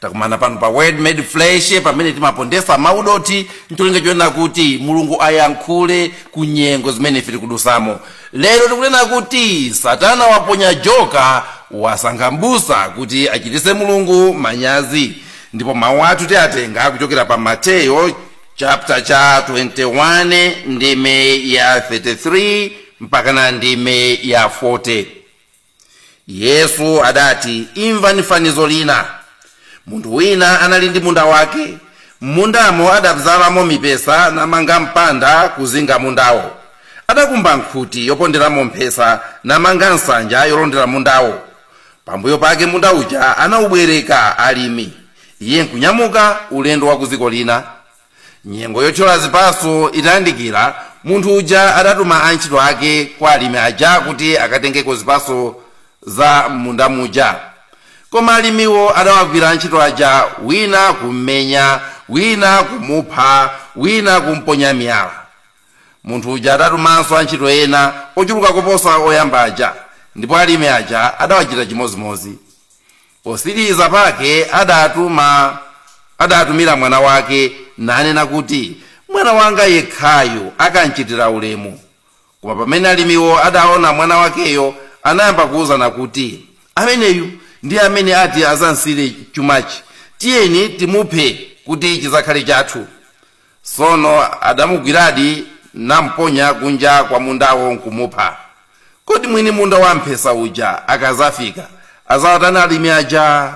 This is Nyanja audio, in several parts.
takumana pano pa word made flesh pamene timapondesa mau dothi ndi cholinga chonena kuti mulungu ayankhule ku nyengo zimene ife tikudusamo lero tikunena kuti satana waponya joka wasankha mbusa kuti achitise mulungu manyazi ndipo mawu athu tiatenga kuchokera pa mateyo chapter cha 21 ndime ya 33 mpakana ndime ya 40 yesu adati imvani fanizo lina munthu wina anali ndi munda wake m'mundamo adabzalamo mipesa namanga mpanda kuzinga mundawo adakumba nkhuti yoponderamo mphesa namanga nsanja yolondera mundawo pambuyo pake munda uja anaubwereka alimi iye nkunyamuka ulendo wa ku dziko lina nyengo yothyola zipatso itayandikira munthu uja adatuma antchito ake kwa alimi aja kuti akatengeko zipatso za m'munda muja koma alimiwo adawagwira antchito aja wina kummenya wina kumupha wina kumponya miyala munthu uja adatumanso antchito ena ochuluka koposa oyamba aja ndipo alimi aja adawachita chimodzimodzi Potsiriza pake adatumira mwana wake nanena kuti, Mwana wanga yekhayu akamchitira ulemu. Koma pamene alimiwo adaona mwana wakeyo, anayamba kuuzana kuti, Ameneyu ndiye amene ati adzamsiyire chumachi. Tiyeni timuphe kuti chidzakhale chathu. Tsono adamugwiradi namponya kunja kwa mundawo nkumupha. Kodi mwini munda wamphesa uja akadzafika, adzawatani alimi aja?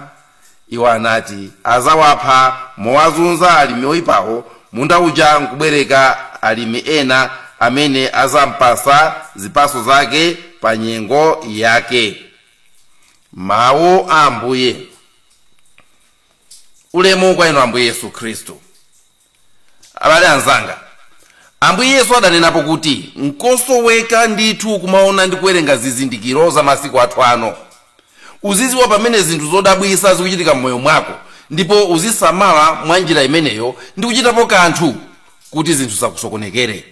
Iwo anati, Adzawapha mowazunza alimi oipawo, munda uja nkubwereka alimi ena amene adzampatsa zipatso zake pa nyengo yake. Mau a Ambuye. ulemu kwa inu ambuye yesu khristu abale anzanga ambuye yesu adanenapo kuti nkosoweka ndithu kumaona ndi kuwerenga zizindikiro za masiku athu ano uziziwa pamene zinthu zodabwisa zikuchitika mmoyo mwako ndipo uzisamala mwa njira imeneyo ndi kuchitapo kanthu kuti zinthu zisakusokonekere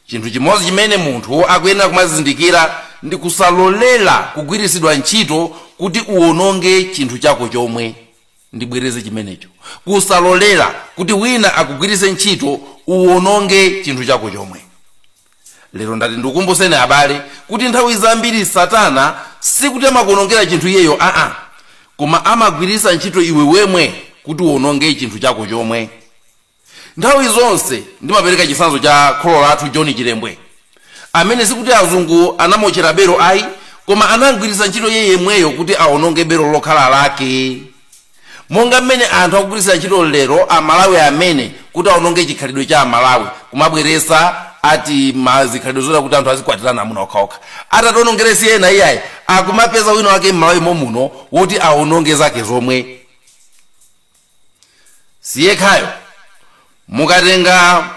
Chinthu chimodzi chimene munthu akuyenera kumazindikira ndi kusalolera kugwiritsidwa ntchito kuti uwononge chinthu chako chomwe. Ndibwereze chimenecho. Kusalolera kuti wina akugwiritse ntchito uwononge chinthu chako chomwe. Lero ndati ndikukumbutseni abale kuti nthawi zambiri Satana sikuti amakuwonongera chinthu iyeyo aa, koma amagwiritsa ntchito iwe wemwe kuti uwononge chinthu chako chomwe. nthawi zonse ndimapereka chitsanzo cha kholo lathu john chilembwe amene sikuti azungu anamotchera belu ayi koma anamgwiritsa ntchito iye yemweyo kuti awononge belu lokhala lake monga mmene anthu akugwiritsira ntchito lero amalawi amene kuti awononge chikhalidwe cha amalawi kumabweresa ati zikhalidwe zoti kuti anthu azikwatirana amuna okhaokha atationongera si ena iyayi akumapeza wina wake mmalawi momuno woti awononge zake zomwe siyekhayo. Mukatenga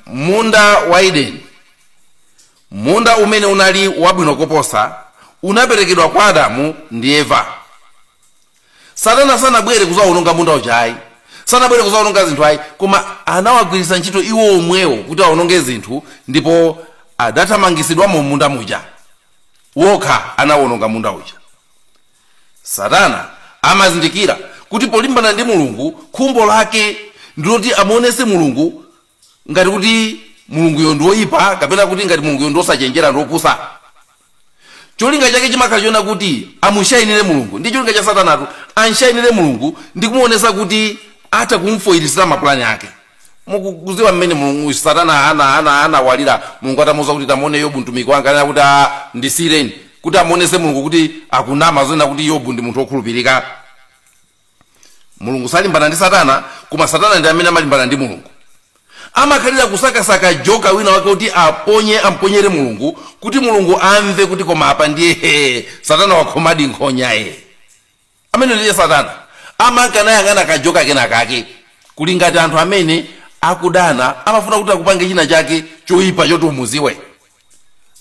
munda wa Edeni, munda umene unali wabwino koposa, unaperekedwa kwa Adamu ndi Eva. Satana sanabwere kuzawononga munda uja ayi, sanabwere kuzawononga zinthu ayi, koma anawagwiritsa ntchito iwo omwewo kuti awononge zinthu, ndipo adathamangitsidwamo munda muja wokha anawononga munda uja. Satana amazindikira kuti polimbana ndi Mulungu, khumbo lake ndi loti amuonetse Mulungu ngati kuti Mulunguyo ndi woipa kapena kuti ngati Mulunguyo ndi wosachenjera ndi wopusa. Cholinga chake chimakhala chonena kuti amushainire Mulungu. Ndi cholinga cha Satanatu, amshainire Mulungu ndi kumuonetsa kuti atha kum'foilitsira mapulani ake. mukudziwa mmene mulungu satana ana ana anawalira mulungu atamuuza kuti tamuone yobu mtumiki wanga anena kuti a ndisiyireni kuti amuonese mulungu kuti akunama zonena kuti yobu ndi munthu wokhulupirika mulungu salimbana ndi satana koma satana ndi amene amalimbana ndi mulungu amakhalira kusakasaka joka wina wake kuti aponye amponyere mulungu kuti mulungu amve kuti koma apa ndiye satana wakhomadi nkhonya ye Ameneyo ndiye satana amanka nayang'ana kajoka kena kake. Kuli ngati anthu amene akudana amafuna kuti akupange china chake choipa choti umuziwe.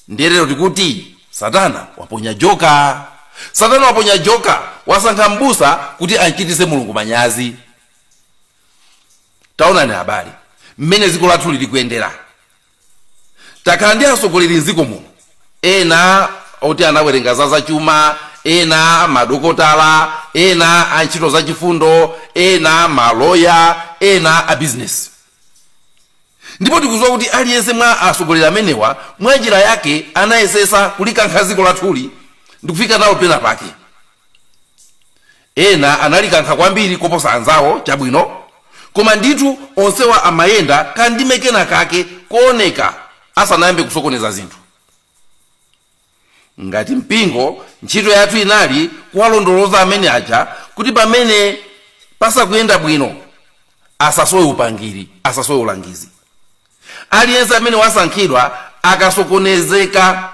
Ndiye lero tikuti satana waponya joka. Satana waponya joka, wasankha m'busa kuti amchitise Mulungu manyazi. Taonani abale mmene dziko lathuli likuyendera. takhala ndi atsogoleri mdziko muno ena oti anawerenga za za chuma ena madokotala ena a ntchito zachifundo ena maloya ena a bizinesi ndipo tikuziwa kuti aliyense mwa atsogoleri amenewa mwa njira yake anayesesa kulikankha dziko lathuli ndikufika nalo pena pake Ena analikankha kwambiri koposa anzawo, chabwino, koma ndithu onsewa amayenda kandime kenakake kooneka asanayambe kusokoneza zinthu. Ngati mpingo, ntchito yathu inali kuwalondoloza amene aja kuti pamene pasakuyenda bwino asasowe upangiri, asasowe ulangizi. Aliyense amene wasankhidwa akasokonezeka,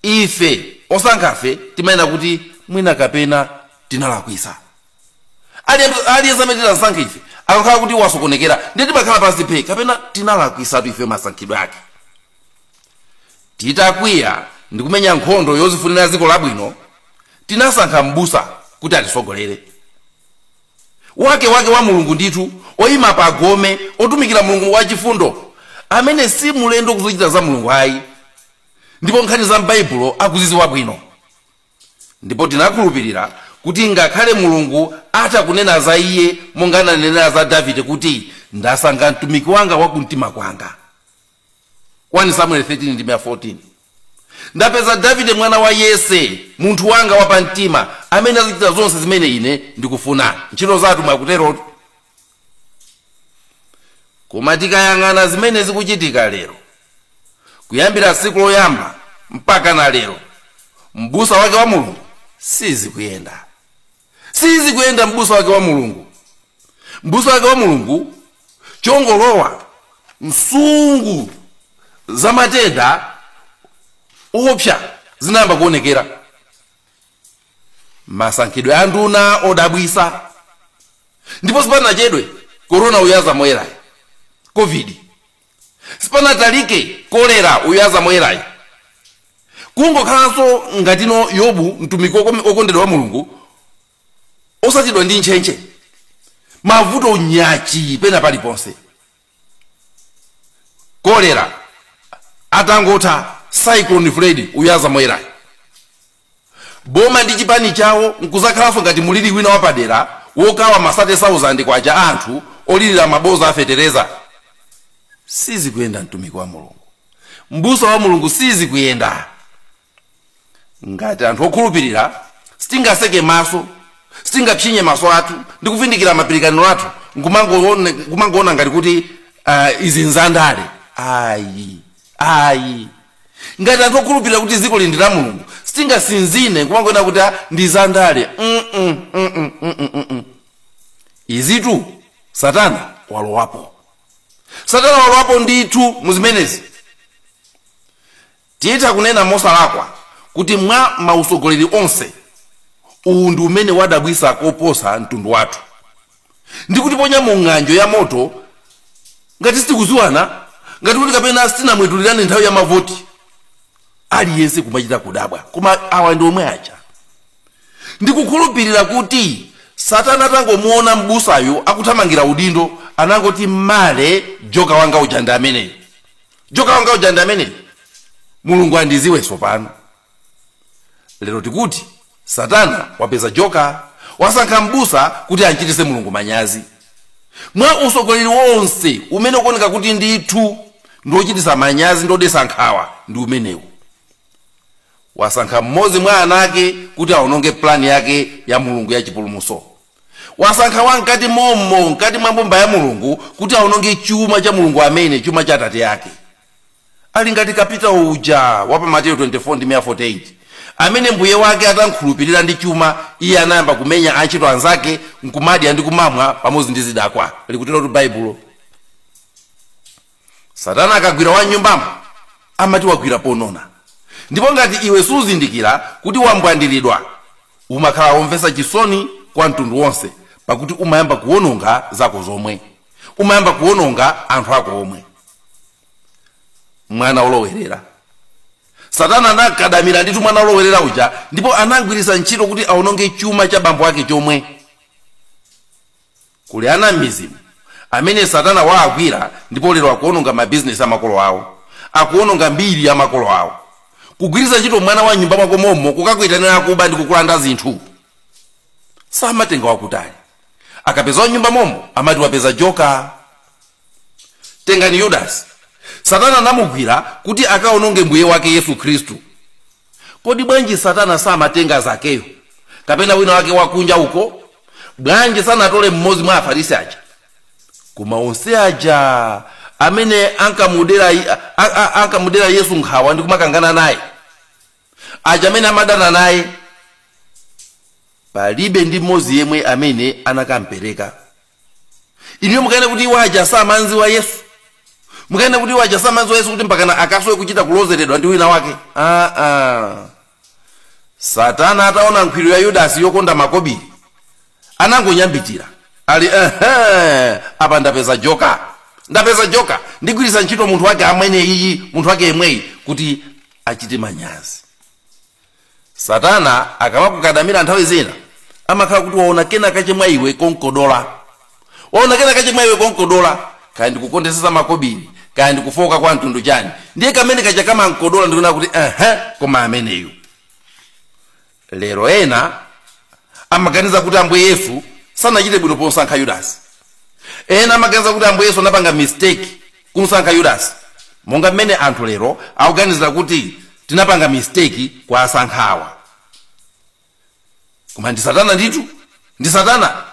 ife osankhafe timanena kuti mwina kapena tinalakwisa. Aliyense aliyense amene tinamsankha ife akakhala kuti wasokonekera, ndiye timakhala pansi phe kapena tinalakwisatu ife masankhidwe ake. Titakwiya ndi kumenya nkhondo yozifunira dziko labwino, tinasankha m'busa kuti atisogolere. wake wake wa Mulungu ndithu, oima pa gome, otumikira Mulungu wachifundo, amene si mlendo ku zochita za Mulungu ayi, ndipo nkhani za m'Baibulo akuzidziwa bwino. Ndipo tinakhulupirira kuti ngakhale Mulungu atha kunena za iye monga ananenera za Davide kuti, Ndasankha mtumiki wanga wa kumtima kwanga. 1 Samueli 13 ndime ya 14 Ndapeza Davide mwana wa Yese, munthu wanga wapamtima, amene adzachita zonse zimene ine ndikufuna. Ntchito za atumwi akuterotu. Koma tikayang'ana zimene zikuchitika lero, kuyambira tsiku loyamba mpaka na lero, m'busa wake wa Mulungu sizikuyenda. sizikuyenda m'busa wake wa mulungu m'busa wake wa mulungu chongolowa nsungu za matenda oopsa zinayamba kuonekera masankhidwe a nduna odabwisa ndipo sipanachedwe korona uyu azamwerayi covid sipanatalike kolera uyu azamwerayi kungokhalanso ngatino yobu mtumiki wokome- wokondedwa wa mulungu osatidwa ndi ntchentche mavuto nyachi pena paliponse kolera atangotha cyclone fred uyu azamwerayi boma ndi chipani chawo nkuzakhalanso ngati mulili wina wapadera wokawa ma sate sauzande kwacha a anthu olilira maboza a fetereza? Sizikuyenda mtumiki wa Mulungu, mbusa wa Mulungu sizikuyenda. Ngati anthu okhulupirira sitingaseke maso, sitingapsinye maso athu ndi kuvindikira mapilikaniro athu nkumangoona ngati kuti izi nzandale ayi. ayi ngati anthu okhulupirira kuti dzikoli ndi la mulungu sitingasinzine nkumangonena kuti a ndi zandale mm -mm, mm -mm, mm -mm, mm -mm. izitu satana walowapo satana walowapo ndithu muzimenezi titha kunena mosalakwa kuti mwa mausogoleri onse uwu ndi umene wadabwisa koposa mtundu wathu ndi kutiponya mu ng'anjo ya moto ngati sitikuziwana ngati kuti kapena sitinamwetulirane nthawi ya mavoti aliyense kumachita kudabwa koma awa ndi omwe aja ndikukhulupirira kuti satana atangomuona m'busayo akuthamangira udindo anangoti mmale joka wanga uja ndi ameneyo joka wanga uja ndi ameneyo mulungu andiziwe sopano lero tikuti satana wapeza joka wasankha mbusa kuti amchitise mulungu manyazi mwa usogoleri wonse umene ukuoneka kuti ndithu ndi wochitisa manyazi ndi wodesa nkhawa ndi umenewu wasankha mmodzi mwa ana ake kuti aononge plani yake ya mulungu ya chipulumuso wasankha wa mkati mommo mkati mwa mbumba ya mulungu kuti aononge chuma cha mulungu amene chuma cha atate ake ali ngati kapitawo uja wa pa mateyu 24 ndi 48 amene mbuye wake atamkhulupirira ndi chuma iye anayamba kumenya antchito anzake nkumadya ndi kumamwa pamodzi ndi zidakwa likutero baibulo satana akagwira wa mnyumbamo amati wagwira ponona ndipo ngati iwe suzindikira kuti wambwandiridwa umakhala womvetsa chisoni kwa mtundu wonse pakuti umayamba kuwononga zako zomwe umayamba kuwononga anthu ako omwe mwana olowerera satana anamkadamira ndithu mwana olowerera uja ndipo anamgwiritsa ntchito kuti awononge chuma cha bambo ake chomwe Kuli ana m'midzimo amene Satana waagwira ndipo lero akuononga mabizinesi a makolo awo, akuononga mbiri ya makolo awo. Kugwiritsa ntchito mwana wa m'nyumba mwako mommo kukakuitanira akuba ndi kukulanda zinthu. Samatenga wakutali. Akapeza wa m'nyumba mommo amati wapeza joka. tengani yudasi satana anamugwira kuti akaononge mbuye wake yesu khristu kodi bwanji satana samatenga zakeyo kapena wina wake wakunja uko bwanji sanatole mmodzi mwa afarisi aja koma onse aja amene ankamudera yesu nkhawa ndi kumakangana naye aja amene amadana naye palibe ndi mmodzi yemwe amene anakampereka inuyo mukuona kuti iwo aja samamziwa yesu mukuona kuti iwo aja samamziwa yesu kuti mpakana akasowe kuchita kulozeredwa ndi wina wake aa ah, ah. satana ataona nkhwiru ya yudasi yokonda makobiri anangonyambitira ali ehe apa ndapeza joka ndapeza joka ndigwiritsa ntchito munthu wake amene iyi munthu wake yemweyi kuti achite manyazi satana akamakukadamira nthawi zina amakhala kuti waona kena kache mwa iwe komkodola waona kena kache mwa iwe komkodola kaya ndi kukondesesa za makobiri kaya ndi kufooka kwa mtundu chani ndiye kameneka kaja kamamkodola ndikuona kuti aha koma ameneyu lero ena amaganiza kuti ambuye yesu sanachite bwino pomsankha yudasi ena amaganiza kuti ambuye yesu anapanga mistake kumsankha yudasi monga mmene anthu lero akuganizira kuti tinapanga mistake kuwasankhawa koma ndi satana ndithu ndi satana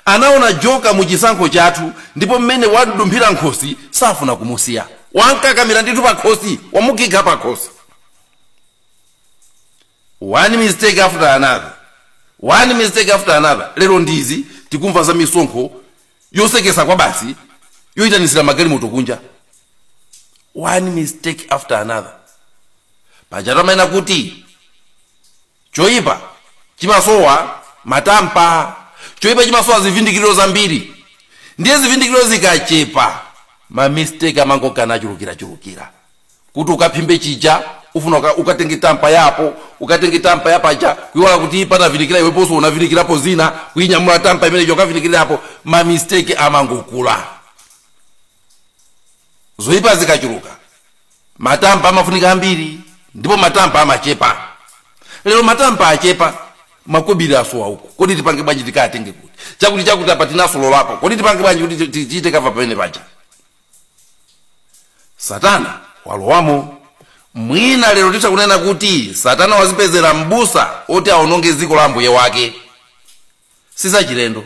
anaona joka mu chisankho chathu ndipo mmene wamdumphira nkhosi safuna kumusiya wamkakamira ndithu pakhosi wamugwira pakhosi one mistake after another, one mistake after another, lero ndi izi tikumva za misonkho yosekesa kwabasi yoyitanisira magalimoto kunja, one mistake after another. Pajatu amanena kuti choyipa chimasowa matamba, choyipa chimasowa zivindikiro zambiri, ndiye zivindikiro zikachepa ma mistake amangonka nachulukirachulukira. kuti ukaphimbe chija ufuna uka, ukatenge tampa yapo ukatenge tampa yapaja kuiwala kuti panavindikira iweponso unavindikirapo zina kuinyamula tampa imeneyo ukavindikirirapo mamisteki amangokula zoyipa zikachuluka matampa amafunika ambiri ndipo matampa amachepa lero matampa achepa makobiri asowa uku kodi tipange bwanji tikatenge kuti chakuti chakuti apa tinasololapo kodi tipange bwanji kuti ti- ti- tichite kava pamene paja satana walowamo mwina lero titha kunena kuti satana wazipezera m'busa oti awononge dziko la ambuye wake sizachilendo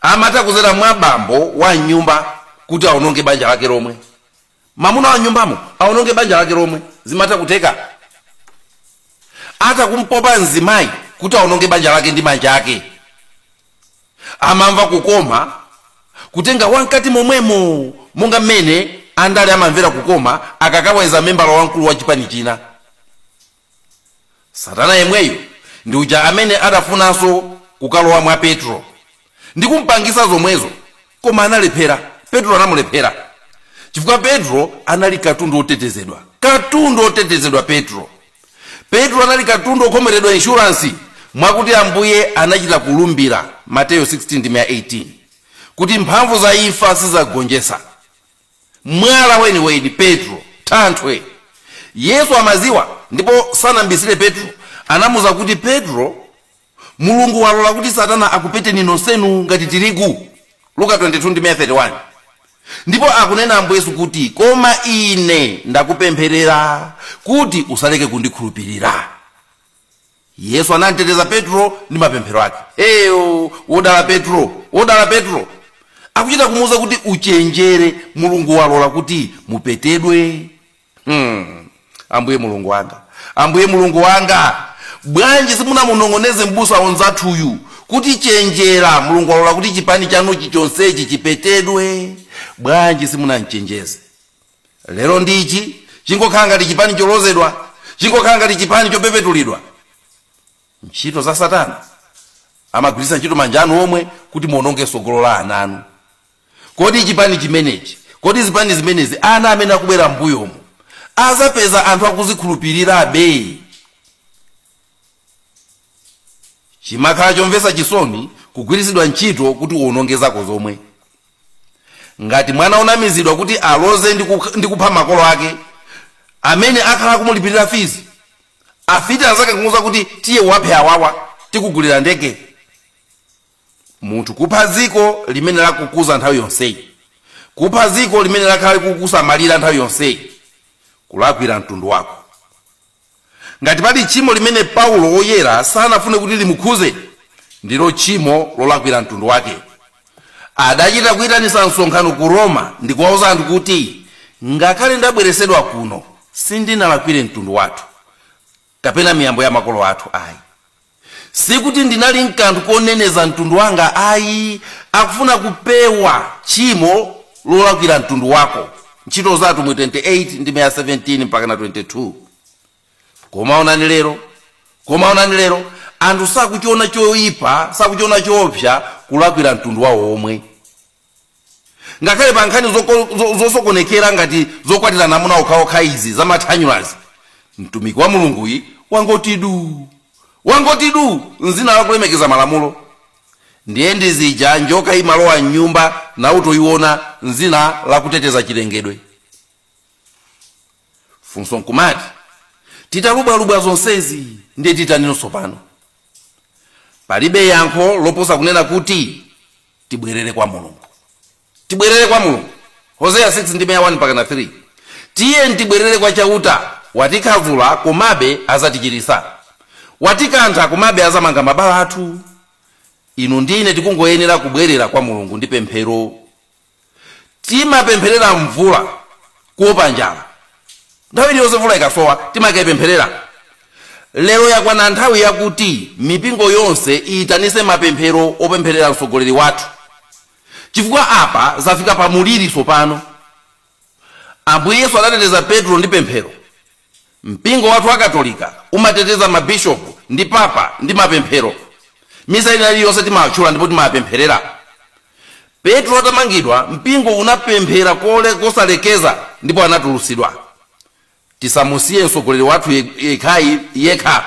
amatha kuzera mwa bambo wa m'nyumba kuti awononge banja lake lomwe mamuna wa m'nyumbamo awononge banja lake lomwe zimatha kutheka atha kumpopa mzimayi kuti awononge banja lake ndi manja ake amamva kukoma kutenga wamkati momwemo monga mmene andale amamvera kukoma akakawedza membala wamkulu wa chipani china satana yemweyo ndi uja amene adafunanso kukalowa mwa petulo ndi kumpangisa zomwezo koma analephera petulo anamulephera chifukwa petulo anali katundu wotetezedwa katundu wotetezedwa petulo petulo anali katundu wokhomeredwa inshuransi mwakuti ambuye anachita kulumbira mateyo 16 ndime ya 18 kuti mphamvu za imfa sizagonjetsa mwala weniweni petulo thanthwe yesu amaziwa ndipo sanambisire petulo anamuuza kuti petulo Mulungu walola kuti Satana akupeteni nonsenu ngati tirigu, Luka 22 ndime ya 31. Ndipo akunena Ambuye Yesu kuti, Koma Ine ndakupempherera kuti usaleke kundikhulupirira. Yesu anamteteza Petulo ndi mapemphero ake. Eyo, wodala Petulo, wodala Petulo! Akuchita kumuuza kuti, Uchenjere, Mulungu walola kuti mupetedwe. hmm. ambuye mulungu wanga ambuye mulungu wanga bwanji simunamunong'oneze mbusa onzathuyu kuti chenjera mulungu walola kuti chipani chanuchi chonsechi chipetedwe bwanji simunanchenjeze lero ndichi chingokhala ngati chipani cholozedwa chingokhala ngati chipani chopepetulidwa ntchito za satana amagwiritsa ntchito manja anu omwe kuti muononge sogolo la ana anu Kodi chipani chimenechi, kodi zipani zimenezi ana amene akubwera m'mbuyomu azapeza anthu akuzikhulupilirabe? Chimakhala chomvetsa chisoni kugwiritsidwa ntchito kuti uwononge zako zomwe. Ngati mwana onamizidwa kuti aloze ndi kukh ndi kupha makolo ake amene akhala akumulipilira fees, afiti anzake nkumuuza kuti tiye uwaphe awawa, tikugulira ndege. munthu kupha dziko limene lakukuza nthawi yonseyi kupha dziko limene lakhala likukusamalira nthawi yonseyi kulakwira mtundu wako ngati pali tchimo limene paulo woyera sanafune kuti limukhuze ndilo tchimo lolakwira mtundu wake adachita kuyitanisa msonkhano ku roma ndi kuwauza anthu kuti ngakhale ndabweresedwa kuno sindinalakwire mtundu wathu kapena miyambo ya makolo athu ayi Sikuti ndinali ndi kanthu koneneza mtundu wanga ayi, akufuna kupewa tchimo lolakwira mtundu wako. Ntchito za Atumwi 28 ndime ya 17 mpakana 22. Koma onani lero, koma onani lero, anthu sakuchiona choyipa, sakuchiona choopsa kulakwira mtundu wawo omwe. ngakhale pa nkhani zoko- zo- zosokonekera ngati zokwatirana amuna okhaokha izi zamathanyulazi mtumiki wa mulunguyi wangoti du wangoti du mzina lakulemekeza malamulo ndiye ndi zija njoka imalowa mnyumba nawo nkumaiona mzina lakuteteza chilengedwe funso nkumati titalubwalubwa zonsezi ndiye titaninso pano palibe yankho loposa kunena kuti tibwerere kwa mulungu tibwerere kwa mulungu hoseya 6 ndime ya 1 mpakana 3 tiyeni tibwerere kwa chauta watikhavula komabe azatichiritsa watikantha komabe azamanga mabala athu inu ndi ine tikungoyenera kubwerera kwa mulungu ndi pemphero timapempherera mvula kuopa njala nthawi iliyonse mvula ikasowa timakaipempherera lero yakwana nthawi yakuti mipingo yonse iyitanise mapemphero opempherera mtsogoleri wathu chifukwa apa zafika pa muliri tsopano ambuye yesu adateteza petro ndi pemphero Mpingo wathu wa Katolika umateteza mabishopu ndi papa ndi mapemphero. Misa ina iliyonse timawatchula ndipo timawapempherera. Petro atamangidwa, mpingo unapemphera kosalekeza ndipo anatulutsidwa. Tisamusiye mtsogoleri wathu yekhayekha.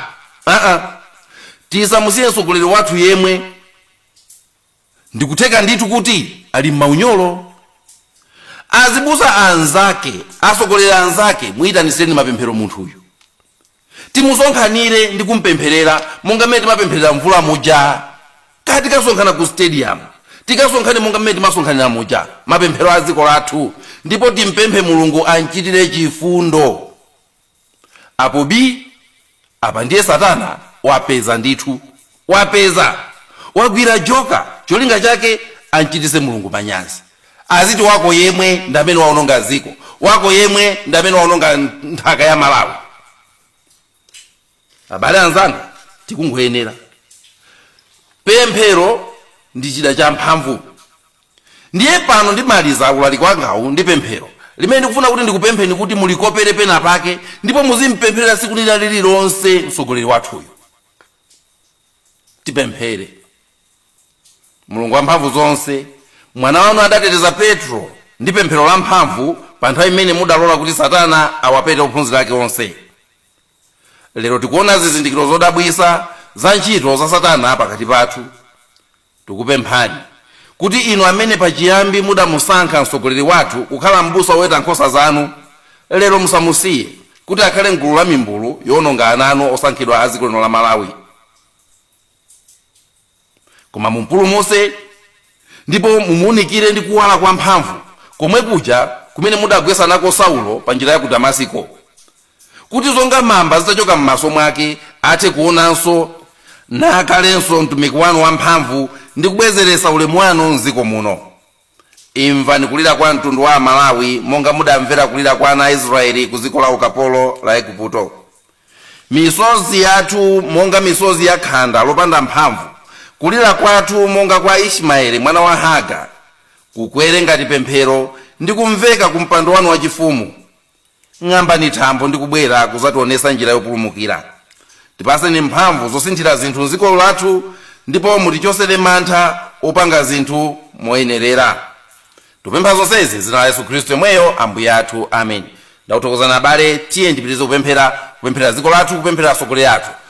Aa, tisamusiye mtsogoleri wathu yemwe. ndikutheka ndithu kuti ali m'maunyolo azibusa anzake asogoleri anzake muyitanitsireni mapemphero munthuyu timusonkhanire ndi kumpempherera monga mmene timapempherera mvula muja kaya tikasonkhana ku stadium tikasonkhane monga mmene timasonkhanira muja mapemphero a dziko lathu ndipo timpemphe mulungu amchitire chifundo apo bi apa ndiye satana wapeza ndithu wapeza wagwira joka cholinga chake anchitise mulungu manyazi aziti wako yemwe ndamene waononga dziko wako yemwe ndamene waononga nthaka ya malawi abale anzanga tikungoyenera pemphero ndi chida cha mphamvu Ndiye pano ndimaliza ulaliki wangawu ndi pemphero limene ndikufuna kuti ndikupempheni kuti mulikopere pena pake ndipo muzimpempherera tsiku lina lililonse mtsogoleri wathuyu. Tipemphere. Mulungu wamphamvu zonse, Mwana wanu adateteza Petro ndi pemphero lamphamvu pa nthawi imene mudalola kuti Satana awapete ophunzira ake onse. Lero tikuona zizindikiro zodabwitsa za ntchito za Satana pakati pathu. Tikupemphani, kuti Inu amene pachiyambi mudamusankha Mtsogoleri wathu kukhala Mbusa Woweta Nkhosa zanu, lero musamusiye, kuti akhale m'gulu la mimbulu yoononga ana anu osankhidwa a dziko lino la Malawi. Koma mumpulumutse, ndipo mumuunikire ndi kuwala kwamphamvu, komwe kuja kumene mudagwetsa nako Saulo pa njira ya ku Damasiko. kuti zonga mamba zitachoka m'maso mwake athe kuonanso nakhalenso mtumiki wanu wamphamvu ndi kubwezeretsa ulemu wanu m'dziko muno imvani kulira kwa mtundu wa amalawi monga mudamvera kulira kwa ana a israeli ku dziko la ukapolo la eguputo misozi yathu monga misozi ya khanda lopanda mphamvu kulira kwathu monga kwa ismaeli mwana wa hagara kukwere ngati pemphero ndi kumveka ku mpando wanu wachifumu ng'ambani thambo ndi kubwera kuzationesa njira yopulumukira tipaseni mphamvu zosinthira zinthu mdziko lathu ndipo mutichosere mantha opanga zinthu moyenerera tikupempha zonsezi m'dzina la yesu khristu yomweyo ambuye athu amen ndakuthokozani abale tiyeni tipitirize kupemphera kupemphera dziko lathu kupemphera atsogoleri athu